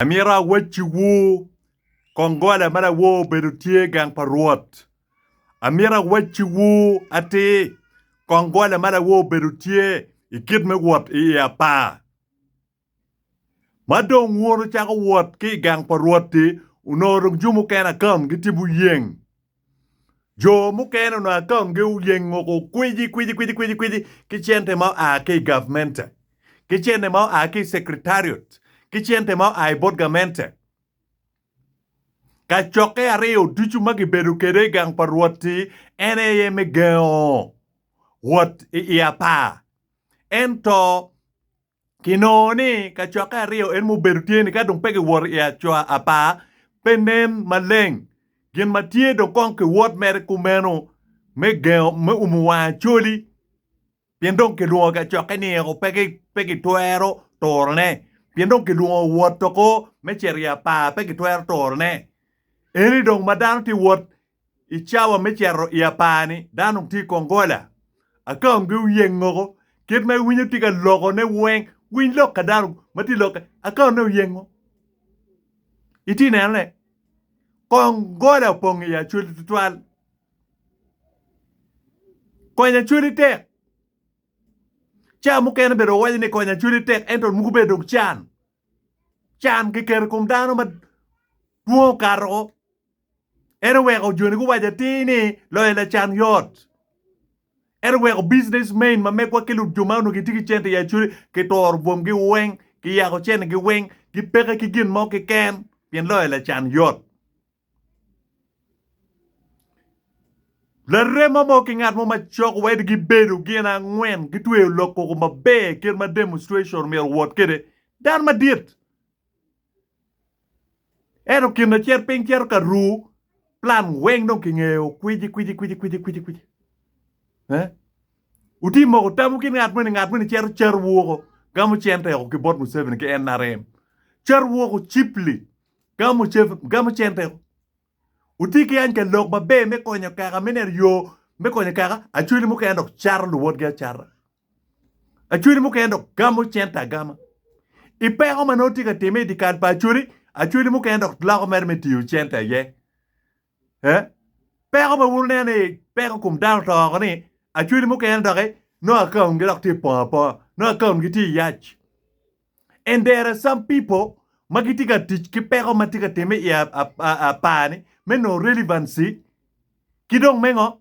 Amito awacciwu, kong gola ma lawor obedo tye i gang pa Rwot. Amito awacciwu atir, kong gola ma lawor obedo tye i kit me wot i i apar. Ma dong wun wucako wot ki i gang pa Rwot-ti, onongo dong jumi okene akam gitye buyeng Jo mukene onongo akaungi oyeng oko kwici kwici kwici kwici kwici ki cente ma oa ki i gavmente, ki cente ma oa ki i secretariat, ki cente ma oa i bot gamente. Kacokke aryo ducu ma gibedo kwede i gang pa Rwot-ti en aye me gengo wot i apar. Ento Kinongo ni kacokke aryo eni ma obedo tye-ni ka dong pe giwoto i acoa apar, pe nen maleng. Gin ma tye dong kong kiwot mere kumeno me gengo me umo wang Acholi pien dong kilwongo kacokke ni eko pe gitwero turone pien dong kilwongo wot oko me cito i apar pe gitwero turone. Eni dong ma dano tye wot I cawa me cito i apar-ni, dano weng tye i kongola. Akaongi oyeng moko. Kit ma iwinyo tye ka lokone weng. Winy lok ka dano ma tye lokke. Akaone oyengo. Itye nenone. Kongola opong i Acholi tutwal. Konyo Acholi tek. Cawa mukene bene wawaco ni konyo Acholi tek ento muku bene dong can. Can kiketo i kom dano ma dwong okato, en oweko joni guwaco atir ni loyo lacan yot. En oweko business men ma megwa ki jo ma onongo gitye ki cente i Acholi kituro bwomgi weng, kiyako centegi weng, gipeke ki gin mo keken pien loyo lacan yot. Larema mo ki ngat mo macok wed gibedo gin angwen gitweyo lok koko maber kit ma demonstration myero owot kwede. Dan madit. Ento kin lacit piny cito ka ru plan weng dong kingeyo kwiji kwiji kwiji kwiji kwiji kwiji. Eh? Uti moko tamu ki ngat mweni, ngat mweni cito car woko gamo cente oko ki bot Museveni ki NRM. Car woko cheaply. gamo cen peko. Wuti ki any ka lok maber me konyo kaka me neno yo me konyo kaka acweli mukene dok cato luwotgi acata. Acweli mukene dok gamo cente agama. I peko ma nongo tye ka timme i dye kal pa acweli, acweli mukene dok loko mere me tiyo cente aye. Peko ma wun wuneno ni peko kom dano to oko ni acweli mukene doki nongo akaungi dok tye pong aponga, nongo akaungi tye yac and there are some people ma gitye ka tic ki peko ma tye ka timme i apar ni me nongo relevancy ki dong me ngo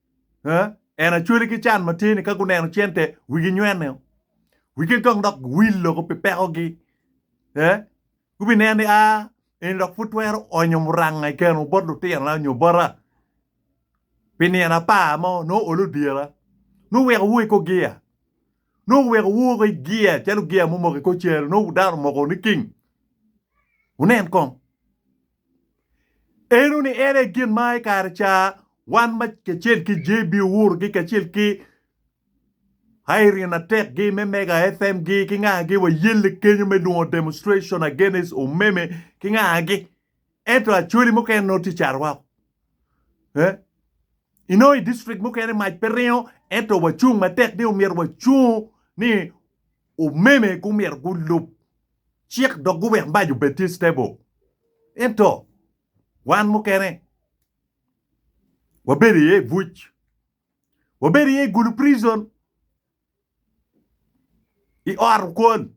En acwali ki can matir-ni ka guneno cente wigi nywene, wigi kong dok guwil loko pi pekogi. Gubineno ni, 'Aa, eni dok pud twero onyo muranga i keno bot lutinona nyo bota pi nino apar mo, nongo olo dyera, nongo weko woo i kor gia, nongo weko woo woko i gia calo gia mumoko i kor cere, nongo dano omoko niking. Wunen kong. Eno ni en aye gin ma i kare ca wan kacel ki JB Ourgi kacel ki Irene Atekgi me Mega FM gi ki ngagi wayelle kenyo me lungo demonstration against Omeme ki ngagi. Ento Acholi mukene nongo tye cat woko. Eh? Inongo i district mukene mac pe ringo ento wacung matek ni omyero wacung ni Omeme gumyero gulub Cik dok guwek mac obed tye stable. Ento wan mukene wabedo iye i buc, wabedo iye i gulu prison, i ot okwon.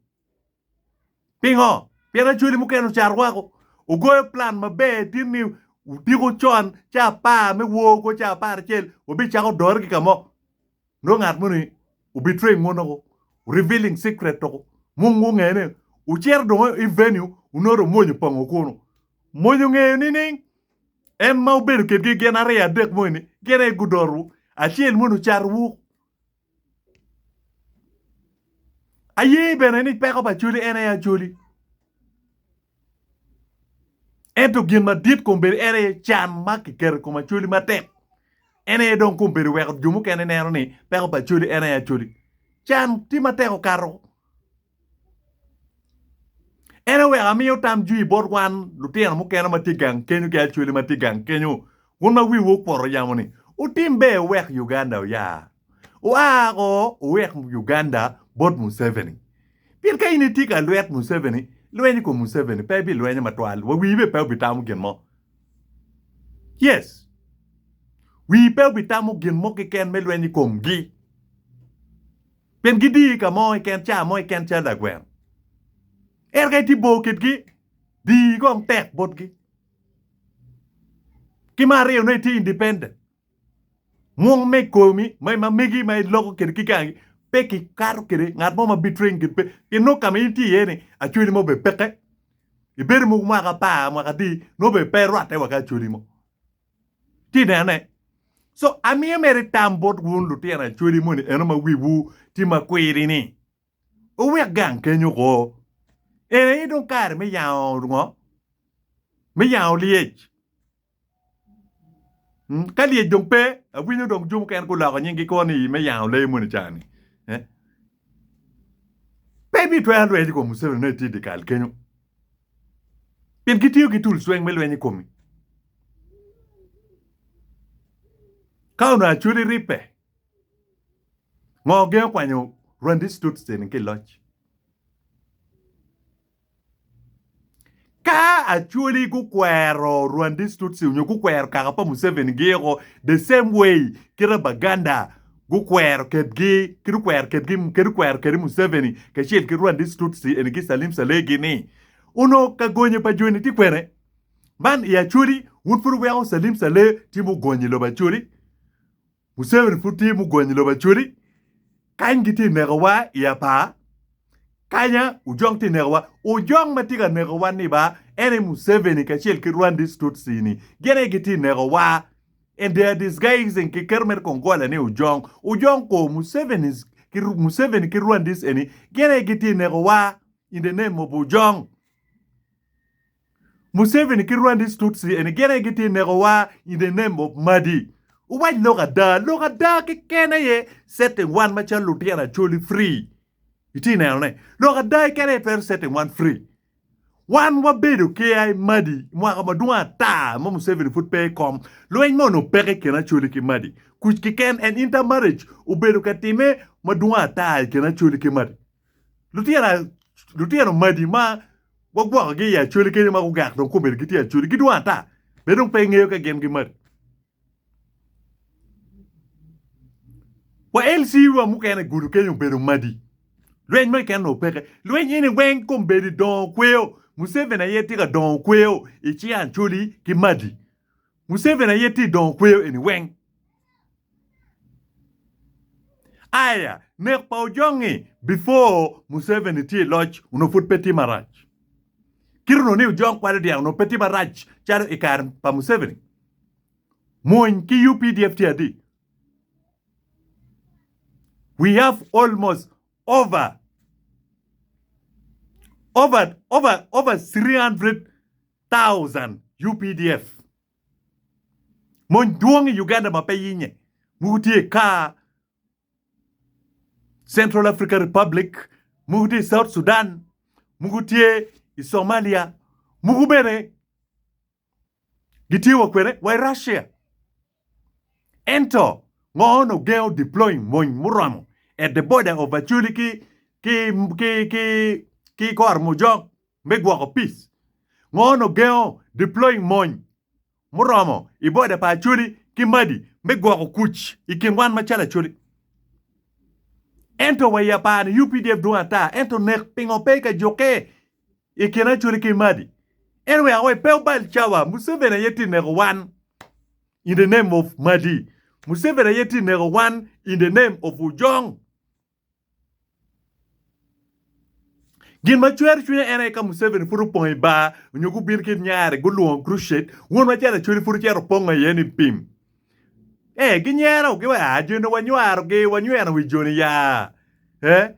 Pingo? Pien Acholi mukene ocar woko, ogoyo plan maber tin ni odiko con, ca apar me wor kwo, ca apar acel wabicako dore ki ka mo. Nongo ngat moni obitweyo ingut nongo revealing secret toko mung gungeyo ni wucito dongo i venue wunoto mwonyo pango kunu mwonyo ngeyo nining en ma wubedo kedgi gin aryo adek mo eni gin aye gudoru acel moni ocato wu aye bene ni peko pa acholi en aye acholi. Ento gin madit kong bedo en aye can ma kiketo i kom Acholi matek. En aye dong kong bedo weko jo mukene neno ni peko pa Acholi en aye Acholi. Can tye matek okato. En aye weko amiyo tam jwi bot wan lutino mukene ma tye gang kenyo ki Acholi ma tye gang kenyo wun ma wiwu okuto yamo ni wutim ber wuwek Uganda oyar. Wa woko wuwek Uganda bot Museveni. Pien ka in itye ka lwet Museveni, lweny i kom Museveni pe ibilwenye matwal, wa wii bene pe obitamo gin mo. Yes. Wii pe obitamo gin mo keken me lweny i komgi. Pien gidiyi ka mo keken, ca mo keken calo lagweno. Ento ka itye bor kitgi, diyi kong tek botgi. Ki me aryo nongo itye independent. Mwong me komi ma megi ma iloko kede ki gangi pe ki kato kede ngat mo ma bi train kede pe pien nongo kama in tye iye ni acholi mo be peke ibedo mogo mwaka apar mwaka adi nongo be pe rwate wa ki acholi mo tye ineno ne so amiyo mere tam bot wun lutino acholi moni eno ma wiwu tye ma kwiri ni wuwek gang kenyo ko en aye dong kare me yango ngo me yango lyec. Ka lyec dong pe, awinyo dong jo mukene guloko nying gikwo ni me yango lee moni ca ni. Pe ibitwero lweny i kom Museveni nongo itye i dikal kenyo. Pien gitiyo ki tul cweng me lweny i komi. Ka onongo Acholi ribbe, ngo gengo kwanyo Rwandese Tutsi eni ki i loc? Ka Acholi gukwero Rwandese Tutsi onyo gukwero kaka pa Museveni giyiko the same way kite Baganda gukwero kedgi kit okwero kedgi kit okwero kede Museveni kacel ki Rwandese Tutsi eni ki Salim Saleh gi ni onongo ka gonye pa joni tye kwene man i Acholi wun pud wuweko Salim Saleh tye mugonyo i lobo Acholi Museveni pud tye mugonyo lobo acodi kany gitye ka nekowa i apar kanya ojok tye ka nekowa ojok ma tye ka nekowa ni ba en aye museveni kacel ki Rwandese Tutsi ni gin aye gitye ka nekowa and they are disguising ki kit mere kong gole ni ojong ojong kor musevenis museveni ki Rwandese eni gin aye gitye ka nekowa in the name of ojong. Museveni ki Rwandese Tutsi eni gin aye gitye neko wa in the name of Madi. Wuwac lok ada, lok ada keken aye setting wan macalo lutino Acholi free. Itye neno ne? Lok ada keken aye twero setting wan free. Wan wabedo ki ai Madi mwaka madwong ata ma Museveni pud pe ikom, lweny mo onongo peke ikin Acholi ki Madi. Kuc keken and intermarriage obedo ka time madwong ata ikin Acholi ki Madi. Lutino magi ma wagwokogi i Acholi keni ma gugak dong kome gitye Acholi gidwong ata be dong pe ingeyo ka gin gimati. Wa LC wa mukene gudo keny obedo madi. Lweny mo keken onongo peke. Lweny eni weng kombeddi dongo kweo. Museveni aye tye ka dongo kweo i ci Acholi ki madi. Museveni aye tye dongo kweyo eni weng. Aya, nek pa Ojongi before Museveni tye i loc onongo pud pe tye marac. Kit onongo ni Ojong kwalo dyang onongo pe tye marac calo i kare pa Museveni. Mwony ki updf tye adi? We have almost over over over over 300 thousand updf mony dwong i Uganda ma pe yinye mogo tye i kaa Central Africa Republic mogo tye i South Sudan mogo tye i Somalia mogo bene gitye wa kwede wa i Russia. Ento, ngo on ogengo deploying mony muromo at the border of Acholi ki ki ki ki ki Kor Mujok me gwoko peace? Ngo on ogengo deploying mony muromo i border pa Acholi ki Madi me gwoko kuc i kin wan macalo Acholi? Ento wa i apar-ni, UPDF dwong ata, ento nek pingo pe ka jukke I kin Acholi ki Madi. En wek awe pe obal cawa. Museveni aye tye neko wan in the name of Madi. Museveni aye tye neko wan in the name of Ojong. Gin ma cwero cwinya en aye ka Museveni pud opong i bar onyo gubin ki nyare gulwongo Crusade won macalo Acholi pud ocito opongo aye ni pim. Eh ginyero gi wa joni wanywaro gi wanyweno wi joni ya. Eh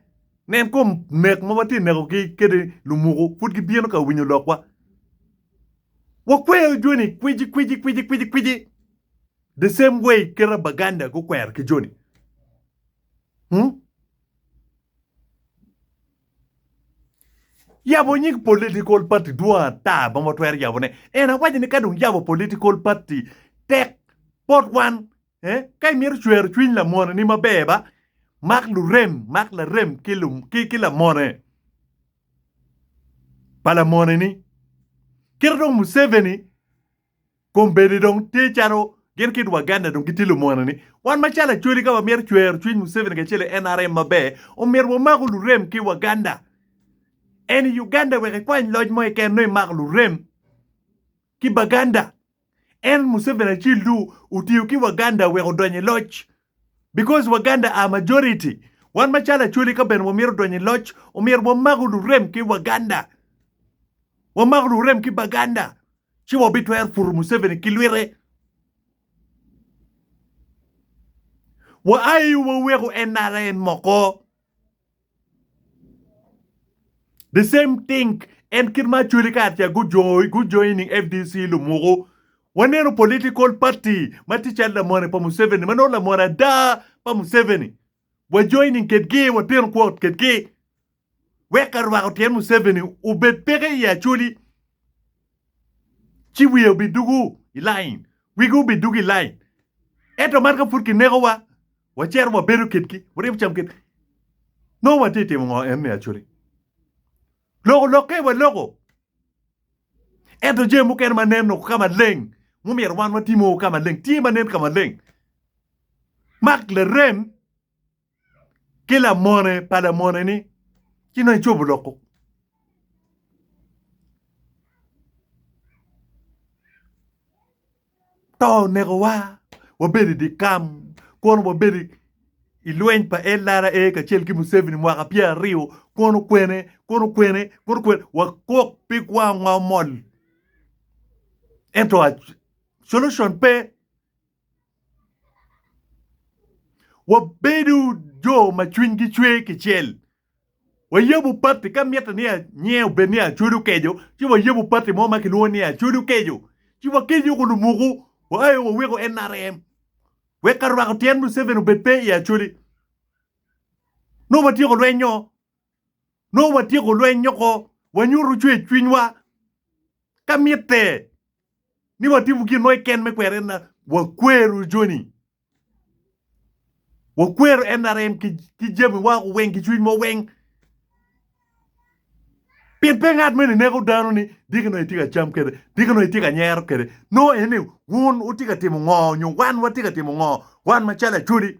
Nen kom nek ma watye nekogi kede lumuku pud gibino ka winyo lokwa. Wakweyo joni kwici kwici kwici kwici kwici the same way keta Baganda gukwero ki joni. Hmm? Yabo nying political party dwong ata ma watwero yabone. En awaco ni ka dong yabo political party tek bot wan Eh, ka imito cwero cwiny lamoneni maber ba, mak lurem, mak larem ki, ki, ki lamone pa lamoneni. Kit dong Museveni kombeddi dong tye calo gin kit Waganda dong gitye lumoneni. Wan macalo Acholi ka wamito cwero cwiny Museveni kacel i NRM maber, omyero wamaku lurem ki Waganda. En i Uganda wek ikwany loc mo keken nongo imako lurem. ki Baganda en Museveni acil do otiyo ki Waganda wek odony i loc because Waganda are majority wan macalo Acholi ka bene wamito donyo i loc omyero wamako lurem ki Waganda wamako lurem ki Baganda ci wabitwero puto Museveni ki lwite wa ai waweko NRM oko. The same thing en kit ma Acholi kacel gujoining FDC lumuku. Waneno political party ma tye calo lamone pa Museveni ma nongo lamone ada pa Museveni. Wajoining kedgi, wateno kwo kedgi. Wek ka rwako tyen Museveni obed peke i Acholi. ci wiye obidugu i lain, wigi obidugu i lain. Ento man ka pud kinekowa, wacito wabedo kitgi, waryemo cam kitgi. Nongo watye ka timo ngo enni Acholi? Loko lokke waloko, ento jami mukene ma nen woko ka maleng mumyero wan watimo woko ka maleng tye ma nen ka maleng. Mark larem. ki lamone pa lamoneni ci nongo icobo loko. To onekowa wabedo i dikam kono wabedo i lweny pa LRA kacel ki Museveni mwaka pyer aryo kono kwene kono kwene kono kwene wakok pi kwangwa omol ento solution pe. Wabedo jo ma cwinygi cwer kicel. Wayabo pati ka mitte ni nyinge obed ni Acodo Kejo, ci wayabo pati mo ma kilwongo ni Acodo Kejo. Ci wakejo woko lumuku, waayo waweko NRM. Wek ka rwako tyen Museveni obed pe i Acholi. Nongo watyeko lweny-nyo. Nongo watyeko lweny-nyo ko. Wanyuto cwercwinywa ka mitte ni watimo gin mo keken me kwero en, wakwero joni. Wakwero NRM ki, ki jamiwa weng, ki cwinywa weng. Pien pe ngat mene neko dano ni diki nongo itye ka cam kwede, diki nongo itye ka nyero kwede. Nongo en ni wun wutye ka timo ngo nyo wan watye ka timo ngo, wan macalo Acholi.